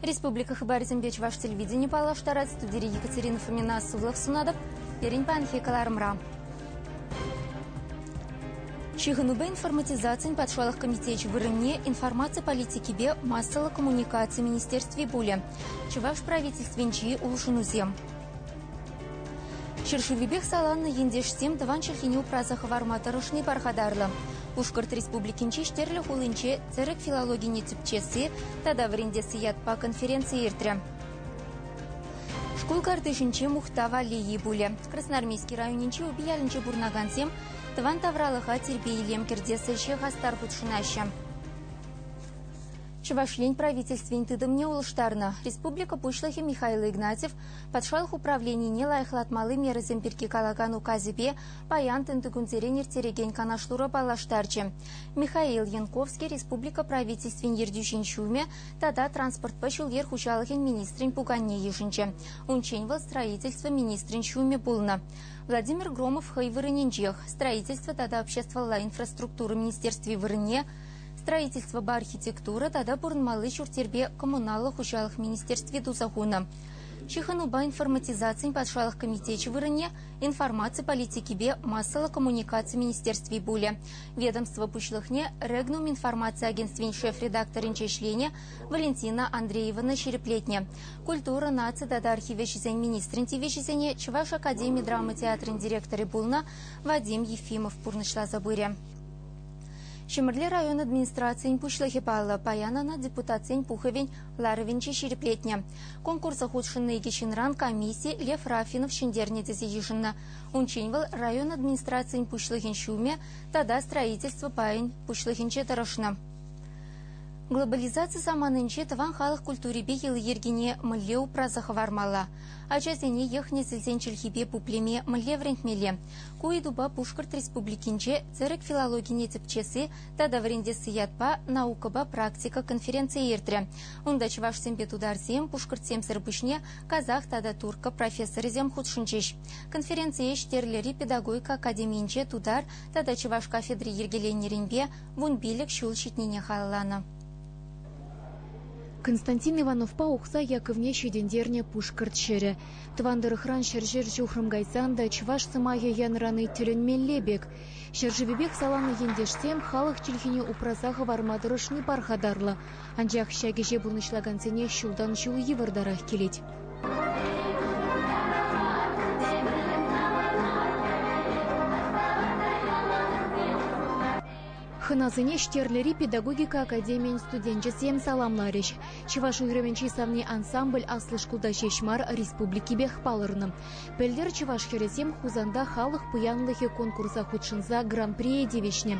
Республика хыпарӗсемпе чӑваш телевидени паллаштарать студири Екатерина Фомина сывлӑх сунатӑп. Пирӗн паянхи кӑларӑмра. Ҫыхӑнупа информатизацин патшалӑх комитечӗ вырӑнне информаци политикипе массӑллӑ коммуникаци министерстви пулӗ. Чӑваш правительствинчи улшӑнусем. Ҫӗршывӗпех саланнӑ ентешсем тӑван чӗлхене упраса хӑварма тӑрӑшни пархатарлӑ. Пушкӑрт Республикинчи Ҫтерлӗ хулинче тӗрӗк филологине тӗпчесси тата вӗрентесси ятпа конференци иртрӗ. Шкул картишӗнче мухтав аллейи пулӗ. Красноармейски районӗнчи Упиялӗнче пурӑнакансем тӑван тавралӑха тирпей-илем кӗртес ӗҫе хастар хутшӑнаҫҫӗ. Чӑваш Ен Правительствин тытӑмне улӑштарнӑ, республика Пуҫлӑхӗ Михаил Игнатьев патшалӑх управленине лайӑхлатмалли мерӑсем пирки калакан указӗпе паян тӑнтӑкунсерен ирттерекен канашлура паллаштарчӗ. Михаил Янковский республика Правительствин ертӳҫин ҫумӗ тата транспортпа ҫул-йӗр хуҫалӑхӗн министрӗн пуканне йышӑнчӗ. Унччен вӑл строительство министрӗн ҫумӗ пулнӑ. Владимир Громов хӑй вырӑнӗнчех, строительство тата обществӑлла инфраструктура министерстви вырӑнне, Строительствӑпа архитектура тата пурӑнмалли ҫурт-йӗрпе коммуналлӑ хуҫалӑх министерстви туса хунӑ. Ҫыхӑнупа информатизацин патшалӑх комитечӗ вырӑнне информаци политикипе массӑллӑ коммуникаци министерстви пулӗ. Ведомство пуҫлӑхне Регнум информаци агентствин шеф-редакторӗнче ӗҫленӗ Валентина Андреевана ҫирӗплетнӗ. Культура, наци тата архив ӗҫӗсен министрӗн тивӗҫӗсене Чӑваш академи драма театрӗн директорӗ пулнӑ Вадим Ефимов пурнӑҫласа пырӗ. Ҫӗмӗрле район администрацийӗн пуҫлӑхӗ паллӑ, паян ӑна депутатсен Пухӑвӗн ларӑвӗнче ҫирӗплетнӗ. Конкурса хутшӑннӑ икӗ ҫынран комисси Лев Рафинов ҫӗнтернӗ тесе йышӑннӑ. Унччен вӑл район администрацийӗн пуҫлӑхӗн ҫумӗ тата строительство пайӗн пуҫлӑхӗнче тӑрӑшнӑ. Глобализаци саманинче тӑван халӑх культурипе йӑли-йӗркине мӗнле упраса хӑвармалла, ачасене йӑх-несӗлсен чӗлхипе пуплеме мӗнле вӗрентмелле, Ку ыйтупа Пушкӑрт Республикинче Тӗрӗк филологине тӗпчесси тата вӗрентесси ятпа наукӑпа практика конференцийӗ иртрӗ. Унта чӑвашсемпе тутарсем, пушкӑртсемсӗр пуҫне казах тата турккӑ профессорӗсем хутшӑнчӗҫ. Конференцие Ҫтерлӗри педагогика академийӗнче тутар тата чӑваш кафедри йӗркеленнӗренпе вун пилӗк ҫул ҫитнине халалланӑ. Константин Ивановпа Ухсай Яковне ҫитӗнтернӗ Пушкӑрт ҫӗрӗ. Тӑван тӑрӑхран ҫӗршер ҫухрӑм кайсан та чӑваш сӑмахӗ янрани тӗлӗнмелле пек. Ҫӗршывӗпех саланнӑ ентешсем халӑх чӗлхине упраса хӑварма тӑрӑшни пархатарлӑ, анчах ҫак ӗҫе пурнӑҫлакансене ҫултан-ҫул йывӑртарах килет. Хӑнасене Ҫтерлӗри педагогика академийӗн студенчӗсем саламларӗҫ. Чӑваш уйрӑмӗн чи савни ансамбль аслӑ шкулта ҫеҫ мар, республикипех палӑрнӑ. Пӗлтӗр чӑваш хӗрӗсем Хусанта халӑх пуянлӑхӗ конкурса хутшӑнса гран-прие тивӗҫнӗ.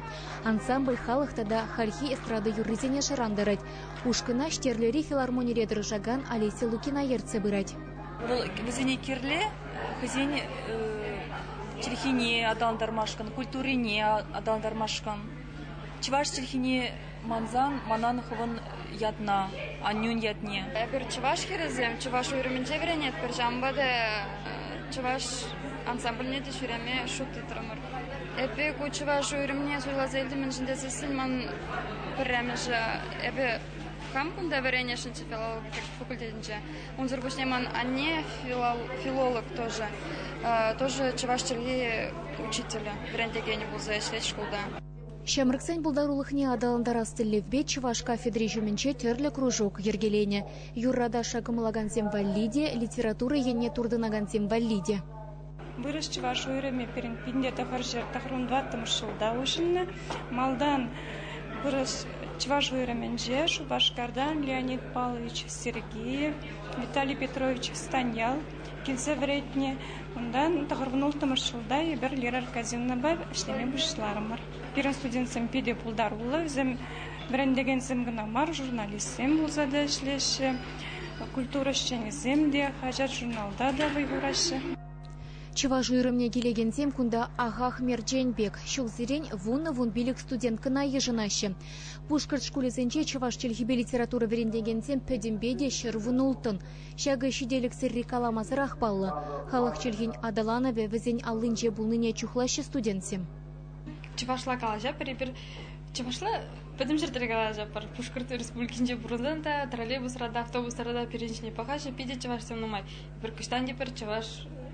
Ансамбль халӑх тата хальхи эстрада юррисене шӑрантарать. Ушкӑна Ҫтерлӗри филармонире тӑрӑшакан Олеся Лукина ертсе пырать. Вӑл вӗсене кирлӗ хӑйсен чӗлхине аталантармашкӑн, культурине аталантармашкӑн. Чӑваш чӗлхине мансан манан хӑвӑн ятна, аннӳн ятне. Эпир чӑваш хӗрӗсем чӑваш уйрӑмӗнче вӗренетпӗр, ҫавӑнпа та чӑваш ансамбльне те ҫӳреме шут тытрӑмӑр. Эпӗ ку чӑваш уйрӑмне суйласа илтӗм, мӗншӗн тесессӗн ман пӗрремӗшӗ, эпӗ хам кунта вӗренесшӗнччӗ филологи факультетӗнче, Унсӑр пуҫне ман анне филолог тоже, тоже чӑваш чӗлхи учителӗ, вӗрентекенӗ пулса ӗҫлет шкулта. Ҫамрӑксен пултарулӑхне аталантарас тӗллевпе чӑваш кафедри ҫумӗнче тӗрлӗ кружок йӗркеленӗ. Юрра-ташша кӑмӑлакансем валли те, литература енне туртӑнакансем валли те. Вырӑс чӑваш уйрӑмӗ пирӗн пинле тӑхӑрҫӗр тӑхӑрмӗн тӑваттӑмӗш ҫулта уҫӑлнӑ. Малтан вырӑс чӑваш уйрӑмӗнче Шупашкартан Леонид Павлович Сергеев, Виталий Петрович Станьял килсе вӗретнӗ. Унтан тӑхӑрвун-улттӑмӗш ҫулта эпир Лера Аркадьевнӑпа ӗҫлеме пуҫларӑмӑр. Пирӗн студентсем питӗ пултаруллӑ, вӗсем вӗрентекенсем кӑна мар, журналистсем пулса та ӗҫлеҫҫӗ. Культура ӗҫченӗсем те, хаҫат-журналта та вӑй хураҫҫӗ. Чӑваш уйрӑмне килекенсем кунта ахах-мерчен пек. Ҫулсерен вунӑ-вун пилӗк студенткӑна йышӑнаҫҫӗ. Пушкӑрт шкулӗсенче чӑваш чӗлхипе литература вӗрентекенсем пӗтӗмпе те ҫӗрвун-улттӑн. Ҫакӑ ҫителӗксӗрри каламасӑрах паллӑ. Халӑх чӗлхин аталанӑвӗ вӗсен аллинче пулнине чухлаҫҫӗ студентсем. чӑвашла калаҫӑпӑр эпир чӑвашла пӗтӗм ҫӗртре калаҫӑпӑр пушкӑрт республикинче пурӑнсан та троллейбусра та автобусра та пирӗн ҫине пӑхаҫҫӗ питӗ чӑвашсем нумай эпир кӑҫтан те пӗр чӑваш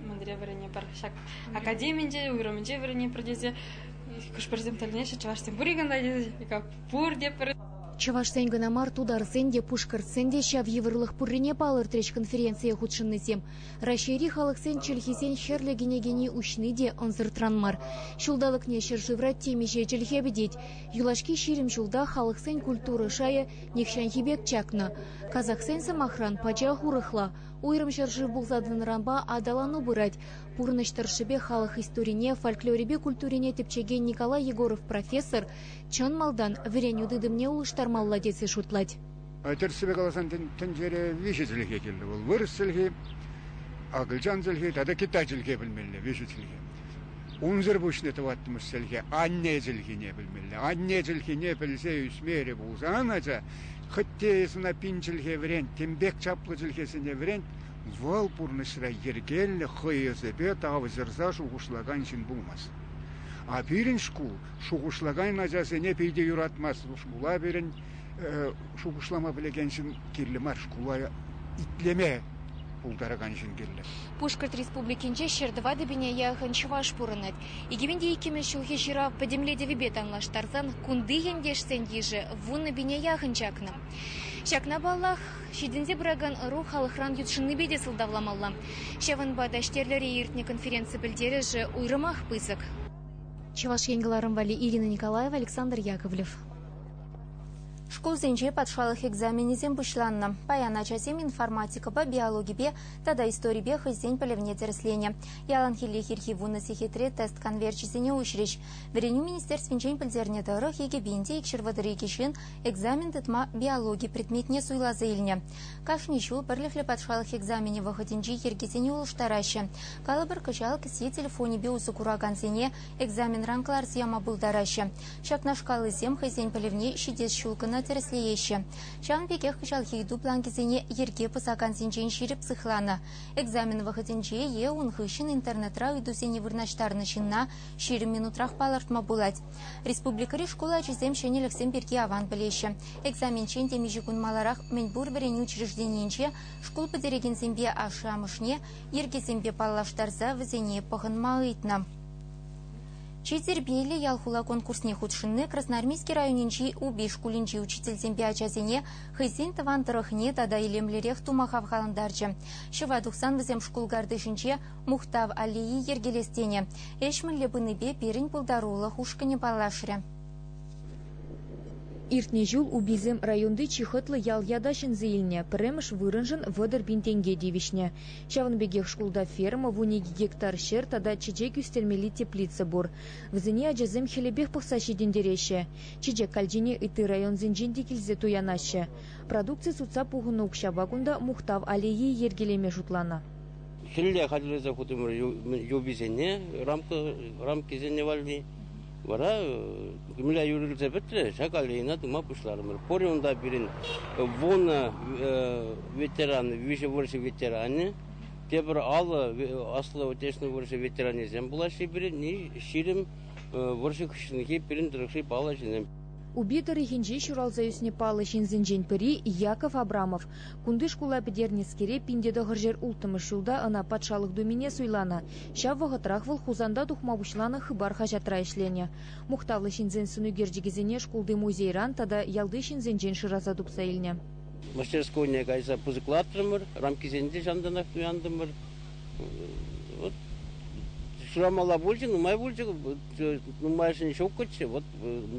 мӗнре вӗренӗпӗр ҫак академинче уйрӑмӗнче вӗренӗпӗр тесе хӑш-пӗрсем тӗлӗнеҫҫӗ чӑвашсем пур-и кунта тесе пурте пӗр Чӑвашсен кӑна мар, тутарсен те, пушкӑртсен те ҫав йывӑрлӑх пуррине палӑртрӗҫ конференцие хутшӑннисем. Раҫҫейри халӑхсен чӗлхисен хӗрлӗ кӗнекени уҫни те ӑнсӑртран мар. Ҫулталӑкне ҫӗршывра темиҫе чӗлхе пӗтет. Юлашки ҫирӗм ҫулта халӑхсен культура шайӗ нихҫанхи пек чакнӑ. Казахсен, сӑмахран, пачах урӑхла. Уйрӑм ҫӗршыв пулса тӑнӑранпа аталану пырать. Пурнӑҫ тӑршшӗпе халӑх историне, фольклорӗпе культурине тӗпчекен Николай Егоров профессор чӑн малтан вӗренӳ тытӑмне улӑштармалла тесе шутлать. Тӗрӗссипе каласан, тӗнчере виҫӗ чӗлхе кирлӗ. Вӑл вырӑс чӗлхи, акӑлчан чӗлхи тата китай чӗлхе пӗлмелле, виҫӗ чӗлхе. Унсӑр пуҫне тӑваттӑмӗш чӗлхе анне чӗлхине пӗлмелле. Анне чӗлхине пӗлсе ӳсмерӗ пулсан, ача хӑть те ӑна пин чӗлхе вӗрент, тем пек чаплӑ чӗлхесене вӗрент, вӑл пурнӑҫра йӗркеллӗ, хӑй ӑсӗпе тавҫӑрса шухӑшлакан ҫын пулмасть. А пирӗн шкул шухӑшлакан ачасене питӗ юратмасть. Шкула пирӗн шухӑшлама пӗлекен ҫын кирлӗ мар. Шкула итлеме пултаракан ҫын кирлӗ. Пушкӑрт Республикинче ҫӗр тӑватӑпине яхӑн чӑваш пурӑнать. 2002 ҫулхи ҫырав пӗтӗмлетӗвӗпе танлаштарсан кунти ентешсен йышӗ вуннӑпине яхӑн чакнӑ. Ҫакна паллах, ҫитӗнсе пыракан ӑру халӑхран ютшӑннипе те сӑлтавламалла. Ҫавӑнпа та Ҫтерлӗре иртнӗ конференци пӗлтерӗшӗ уйрӑмах пысӑк. Чӑваш Ен кӑларӑм валли Ирина Николаева, Александр Яковлев. Шкулсенче патшалӑх экзаменӗсем пуҫланнӑ. Паян ачасем информатикӑпа, биологипе тата историпе хӑйсен пӗлӗвне тӗрӗсленӗ. Яланхиллех ирхи вунӑ сехетре тест конверчӗсене уҫрӗҫ. Вӗренӳ министерствинчен пӗлтернӗ тӑрӑх, Икӗпенте икҫырвӑтӑр икӗ ҫын экзамен тытма биологи предметне суйласа илнӗ. Кашни ҫул пӗрлӗхлӗ патшалӑх экзаменӗ вӑхӑтӗнчи йӗркесене улӑштараҫҫӗ. Калӑпӑр, кӑҫал кӗсье телефонӗпе усӑ куракансене экзаменран кӑларса яма пултараҫҫӗ. Ҫакнашкаллисем хӑйсен пӗлӗвне ҫитес ҫул кӑна тӗрӗслееҫҫӗ. Ҫавӑн пекех кӑҫалхи ыйту бланкӗсене йӗрке пӑсакансенчен ҫирӗп сыхланӑ, экзамен вӑхӑтӗнче е ун хыҫҫӑн интернетра ыйтусене вырнаҫтарнӑ ҫынна ҫирӗм минутрах палӑртма пулать. Республикӑри шкул ачисем ҫӗнӗлӗхсем пирки аван пӗлеҫҫӗ. Экзаменччен темиҫе кун маларах мӗнпур вӗренӳ учрежденийӗнче шкул пӗтерекенсемпе ашшӗ-амӑшне йӗркесемпе паллаштарса вӗсене пӑхӑнма ыйтнӑ. Чи тирпейлӗ ял-хула конкурсне хутшӑнни Красноармейски районӗнчи Упи шкулӗнчи учительсемпе ачасене хӑйсен тӑван тӑрӑхне тата илемлӗрех тума хавхалантарчӗ. Ҫӑва тухсан вӗсем шкул картишӗнче Мухтав аллеи йӗркелес тенӗ ӗҫ мӗнле пынипе пирӗн пултарулӑх ушкӑнӗ паллашрӗ. Иртнӗ ҫул Уписем районти чи хӑтлӑ ял ята ҫӗнсе илнӗ, пӗрремӗш вырӑншӑн вӑтӑр пин тенке тивӗҫнӗ. Ҫавӑн пекех шкулта ферма, вун икӗ гектар ҫӗр тата чечек ӳстермелли теплица пур. Вӗсене ачасем хӗлӗпех пӑхса ҫитӗнтереҫҫӗ. Чечек калчине ытти районсенчен те килсе туянаҫҫӗ. Продукци сутса пухӑннӑ укҫапа кунта мухтав аллейи йӗркелеме шутланӑ. Хӗлле хатӗрлесе хутӑмӑр юписене, рамкӑсене валли. Вара мӗнле юрӑлса пӗтрӗ, ҫак аллейӑна тума пуҫларӑмӑр. Пурӗ унта пирӗн вунӑ ветеран, виҫӗ вӑрҫӑ ветеранӗ, тепӗр аллӑ Аслӑ Отечественнӑй вӑрҫӑ ветеранӗсем пулаҫҫӗ пирӗн, ҫирӗм вӑрҫӑ хыҫҫӑнхи пирӗн тӑрӑхри паллӑ ҫынсем. Упи тӑрӑхӗнче ҫуралса ӳснӗ паллӑ ҫынсенчен пӗри Яков Абрамов Кунти шкула пӗтернӗскере пин те тӑхӑрҫӗр улттӑмӗш ҫулта ӑна Патшалӑх Думине суйланӑ. Ҫав вӑхӑтрах вӑл Хусанта тухма пуҫланӑ Хыпар хаҫатра ӗҫленӗ. Мухтавлӑ ҫынсен сӑнӳкерчӗкӗсене шкулти музейран тата ялти ҫынсенчен шыраса тупса илнӗ. Мастерскойне кайса пысӑклатрӑмӑр, рамкисене те ҫантанах туянтӑмӑр. Вот Шурамалла пулчӗ, нумай пулчӗ, нумайӑшӗн ҫук кӑччӗ. Вот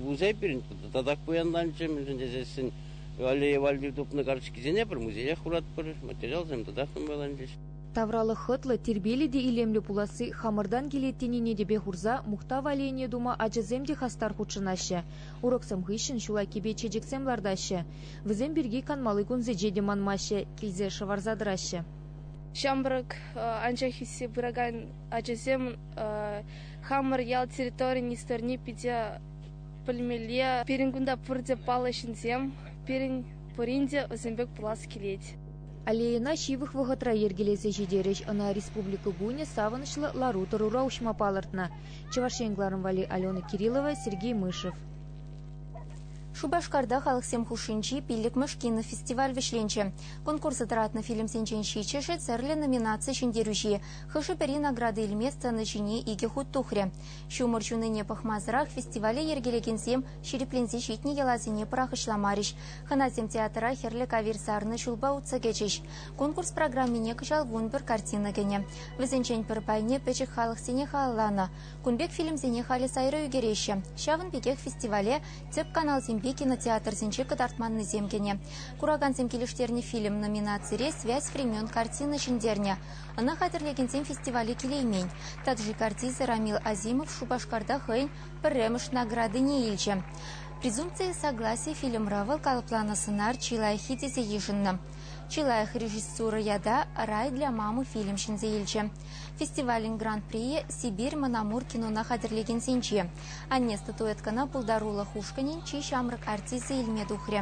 музей пирӗн татах пуянланчӗ, мӗншӗн тесессӗн Аллея валли тупнӑ карточкисене пӗр музеях хуратпӑр, материалсем татах нумайланчӗҫ. Тавралӑх хӑтлӑ, тирпейлӗ те илемлӗ пуласси хамӑртан килет тенине тӗпе хурса мухтав аллейине тума ачасем те хастар хутшӑнаҫҫӗ. Уроксем хыҫҫӑн ҫул айккипе чечексем лартаҫҫӗ. Вӗсем пирки канмалли кунсенче те манмаҫҫӗ, килсе шӑварса тӑраҫҫӗ. Ҫамрӑк, анчах ӳссе пыракан ачасем хамӑр ял территорийӗн историне питӗ Пӗлмелле, пирӗн кунта пурте паллӑ ҫынсем. Пирӗн пурин те вӗсем пек пулас килет. Аллейӑна ҫывӑх вӑхӑтра йӗркелесе ҫитерӗҫ. Ӑна Республика кунӗ савӑнӑҫлӑ лару-тӑрура уҫма палӑртнӑ Чӑваш Ен главнӑй вали Алена Кириллова, Сергей Мышев. Шупашкарта халӑхсем хушшинчи пиллӗкмӗш кинофестиваль вӗҫленчӗ. Конкурса тӑратнӑ фильмсенчен ҫичҫӗшӗ тӗрлӗ номинаци ҫӗнтерӳҫи. Хӑшӗ-пӗри награда илмест тӑнӑ ҫине икӗ хут тухрӗ. Ҫумӑр ҫунине пӑхмасӑрах фестивале йӗркелекенсем ҫирӗпленсе ҫитнӗ йӑласене пӑрахӑҫламарӗҫ. Хӑнасем театра хӗрлӗ кавир сарнӑ ҫулпа утса кӗчӗҫ. Конкурс программине кӑҫал вун пӗр картина кӗнӗ. Вӗсенчен пӗр пайне пӗчӗк халӑхсене халалланӑ. Кун пек фильмсене халӗ сайра ӳкереҫҫӗ. Ҫавӑн пекех фестивале тӗп каналсемпе кинотеатрсенче кӑтартманнисем кӗнӗ. Куракансем килӗштернӗ фильм номинацире «Связь времен» картина ҫӗнтернӗ. Ӑна хатӗрлекенсем фестивале килеймен. Таджикартиза Рамил Азимов Шупашкарта хӑйӗн пӗрремӗш наградине илчӗ. «Презумпция согласия» фильмра вӑл калӑпланӑ сӑнар чи лайӑххи тесе йышӑннӑ. Чи лайӑх режиссура ята «Рай для мамы» фильм ҫӗнсе илчӗ. Фестивалӗн гран-прийӗ Сибирь Мӑн Амур кинона хатӗрлекенсенче. Анне статуэткӑна пултарулӑх ушкӑнӗн чи ҫамрӑк артисчӗ илме тухрӗ.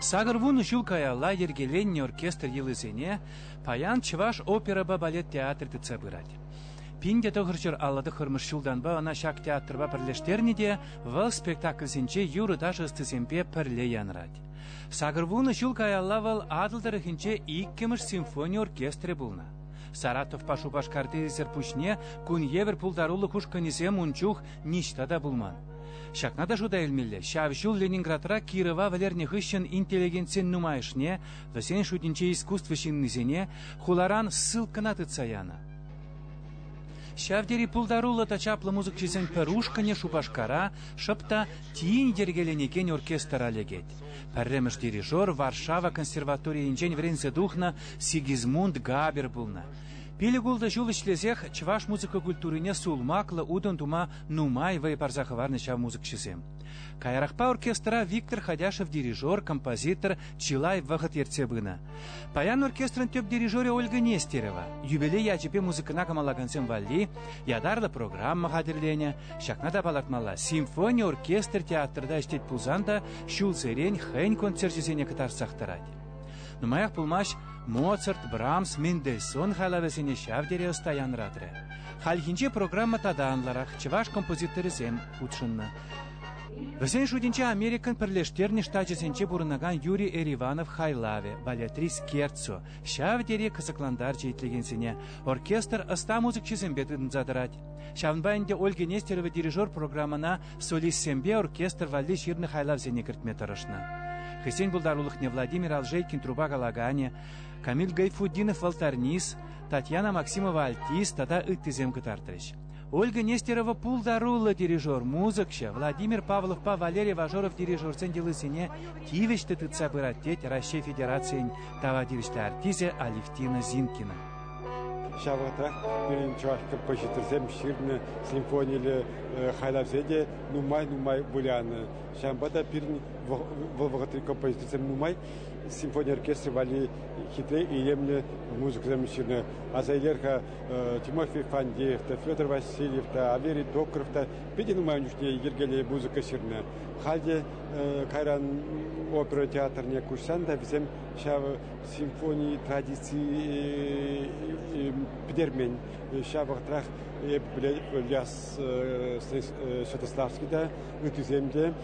Сакӑр вун ҫул каялла йӗркеленнӗ оркестр йӑлисене паян Чӑваш оперӑпа балет театрӗ тытса пырать. Пин те тӑхӑрҫӑр алла тӑххӑрмӗш ҫултанпа ӑна ҫак театрпа пӗрлештернӗ те вӑл спектакльсенче юрӑ-ташӑ ӑстисемпе пӗрле янӑрать. Сакӑр вун ҫул каялла вӑл Атӑл тӑрӑхӗнче иккӗмӗш симфони оркестрӗ пулнӑ. Саратовпа Шупашкарти ӗҫсӗр пуҫне кун евӗр пултарулӑх ушкӑнӗсем ун чух ниҫта та пулман. Ҫакна та шута илмелле, ҫав ҫул Ленинградра Кирова вӗлернӗ хыҫҫӑн интеллигентсен нумайӑшне, вӗсен шутӗнче искусство ҫыннисене, хуларан ссылкӑна тытса янӑ. Ҫав тери пултаруллӑ та чаплӑ мусӑкҫӑсен пӗр ушкӑнӗ Шупашкара шӑп та тин йӗркеленекен оркестра лекет. Пӗрремӗш дирижер Варшава консерваторийӗнчен вӗренсе тухнӑ Сигизмунд Габер пулнӑ. Пилӗк-ултӑ ҫул ӗҫлесех чӑваш музыка культурине сулмаклӑ утӑм тума Нумай вӑй парса хӑварнӑ ҫав мусӑкҫӑсем. Каярахпа оркестра Виктор Ходяшев дирижер, композитор чылай вӑхӑт ертсе пынӑ. Паян оркестрӑн тӗп дирижерӗ Ольга Нестерова юбилей ячӗпе музыкӑна кӑмалакансем валли ятарлӑ программа хатӗрленӗ. Ҫакна та палӑртмалла, симфони оркестр театрта ӗҫлет пулсан та ҫулсерен хӑйӗн концерчӗсене кӑтартсах тӑрать. Нумаях пулмасть Моцарт, Брамс, Мендельсон хайлавӗсене ҫав тери ӑста янратрӗ. Хальхинче программа тата анлӑрах чӑваш композиторӗсем хутшӑннӑ. Вӗсен шутӗнче Америкӑн пӗрлештернӗ штачӗсенче пурӑнакан Юрий Эриванов хайлавӗ, балетрис Керцу, ҫав тери кӑсӑклантарчӗ итлекенсене. Оркестр ӑста музыкҫӑсемпе тытӑнса тӑрать. Ҫавӑнпа ӗнтӗ Ольга Нестерова дирижер программӑна Солистсемпе оркестр валли ҫырнӑ хайлавсене кӗртме тӑрӑшнӑ. Хӑйсен пултарулӑхне Владимир Алжейкин трупа калаканӗ, Камиль Гайфутдинов валтарнист, Татьяна Максимова альтист тата ыттисем кӑтартрӗҫ. Ольга Нестерова пултаруллӑ дирижер, музыкҫӑ, Владимир Павловпа Валерий Вожоров дирижерсен йӑлисене тивӗҫлӗ тытса пырать, тет Раҫҫей Федерацийӗн тава тивӗҫлӗ артисӗ Алевтина Зинкина. Ҫав вӑхӑтрах пирӗн чӑваш композиторсем ҫырнӑ симфониллӗ хайлавсем те нумай-нумай вылянӑ. Ҫавӑнпа та пирӗн вӑл вӑхӑтри композиторсем нумай симфони оркестрӗ валли хитре илемлӗ музыкӑсем ҫырнӑ. Аса илер-ха Тимофей Фандеев та, Федор Васильев та, Аверий Докров та питӗ нумай ун чухне йӗркеллӗ музыка ҫырнӑ. Халь те кайран опера театрне куҫсан та вӗсем ҫав симфони традици пӗтермен. Ҫав вӑхӑтрах эп Ильяс Святославский та, ыттисем те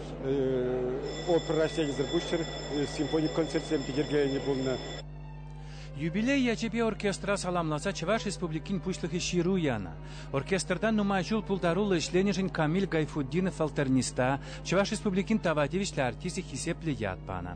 опера ӗҫченӗсӗр пуҫҫӑр симфони концертсем те йӗркеленӗ пулнӑ. Юбилей ячӗпе оркестра саламласа Чӑваш Республикин Пуҫлӑхӗ ҫыру янӑ. Оркестрта нумай ҫул пултаруллӑ ӗҫленӗшӗн Камиль Гайфутдинов алтерниста, Чӑваш Республикин тава тивӗҫлӗ артисчӗ хисеплӗ ят панӑ.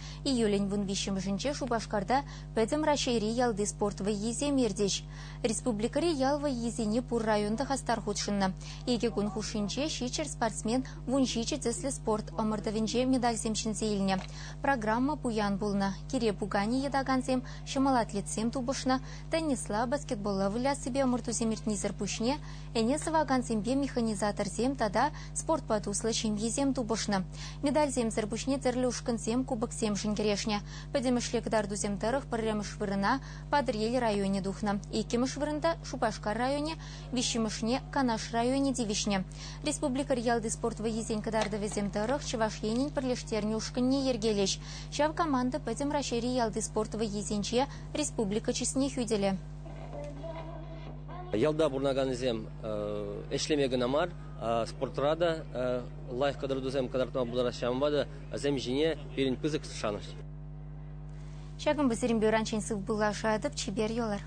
Июлӗн вун виҫҫӗмӗшӗнче Шупашкарта Пӗтӗм Раҫҫейри ялти спорт вӑййисем иртӗҫ. Республикӑри ял вӑййисене пур район та хастар хутшӑннӑ. Икӗ кун хушшинче ҫиччӗр спортсмен вун ҫичӗ тӗслӗ спорт ӑмӑртӑвӗнче медальсем ҫӗнсе илнӗ. Программа пуян пулнӑ, кире пуканӗ йӑтакансем, ҫӑмӑл атлетсем тупӑшнӑ, теннисла, баскетболла выляссипе ӑмӑртусем иртнисӗр пуҫне ӗне сӑвакансемпе механизаторсем тата спортпа туслӑ ҫемьесем тупӑшнӑ. Медальсемсӗр пуҫне тӗрлӗ ушкӑнсем кубоксемшӗн кӗрешнӗ. Пӗтӗмӗшле кӑтартусем тӑрӑх пӗрремӗш вырӑна Патӑрьел районӗ тухнӑ, иккӗмӗш вырӑнта Шупашкар районӗ, виҫҫӗмӗшне Канаш районӗ тивӗҫнӗ. Республикӑри ялти спорт вӑййисен кӑтартӑвӗсем тӑрӑх Чӑваш Енӗн пӗрлештернӗ ушкӑнне йӗркелӗҫ. Ҫав команда пӗтӗм Раҫҫейри ялти спорт вӑййисенче республика чысне хӳтӗлӗ. Ялта пурӑнаканӗсем ӗҫлеме кӑна мар, спортра та лайӑх кӑтартусем кӑтартма пултараҫҫӗ, ҫавӑнпа та вӗсем ҫине пирӗн пысӑк шанӑҫ. Ҫакӑн пысӑрин бюранчен сыв пуллашатӑп, чипер юлар.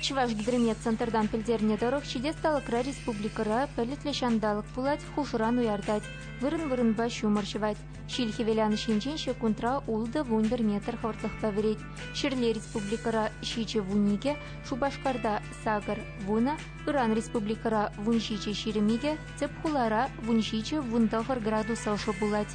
Чӑвашгидромет центртан пӗлтернӗ тӑрӑх, ҫитес талӑкра республикӑра пӗлӗтлӗ ҫанталӑк пулать, хушӑран уяртать, вырӑн-вырӑнпа ҫумӑр ҫӑвать. Ҫил хӗвеланӑҫ енчен ҫеккунтра ултӑ-вунпӗр метр хӑвӑртлӑхпа вӗрет. Ҫӗрле республикӑра ҫичӗ вун икӗ, Шупашкарта сакӑр вунӑ, ыран республикӑра вун ҫичӗ ҫирӗм икӗ, тӗп хулара вун ҫичӗ-вун тӑхӑр градус ӑшӑ пулать.